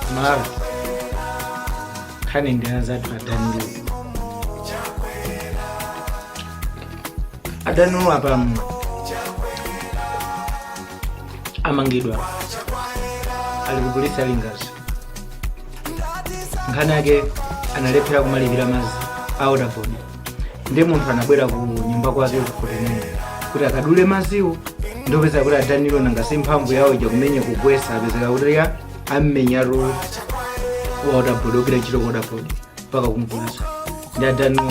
amalawi nkhani ndi ya anzathu adanilo adanilo apa mm, amangidwa ali ku polisi a lingadzi nkhani yake analephera kumalipira madzi a wotabodi ndi munthu anabwera ku nyumba kwake kuti kuti akadule madziwo ndikupeza kuti adanilo nanga si mphamvu yawo ija kumenya kugwesa apezeka kuti ya ammenyatu wa wotabodi ogwira ntchito ku wotabodi mpaka kumuvulaza ndi adanilo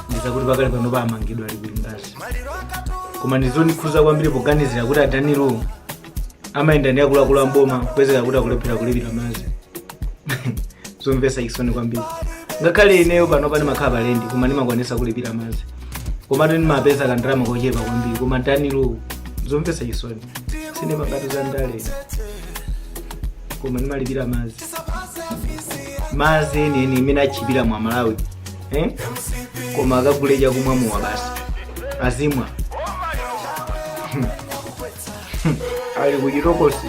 ndiye zakuti pakali pano amangidwa ali ku lingadzi koma ndizondikhuza kwambiri poganizira kuti adanilo amayenda ndi akuluakulu a m'boma kupezeka kuti akulephera kulipira madzi zomvesa chisoni kwambiri ngakhale ineyo pano pani ndimakhala pa lendi koma ndimakwanisa kulipira madzi komatu ndimapeza kandalama kochepa kwambiri koma danilo zomvesa chisoni sindikamba za ndale koma ndimalipira madzi madzi enieni imene otchipira m'malawi eh? koma akagule chakumwa mowa basi azimwa ali kuchitokosi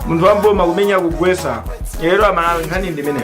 munthu wa m'boma kumenya kugwesa lero amalawi nkhani ndimene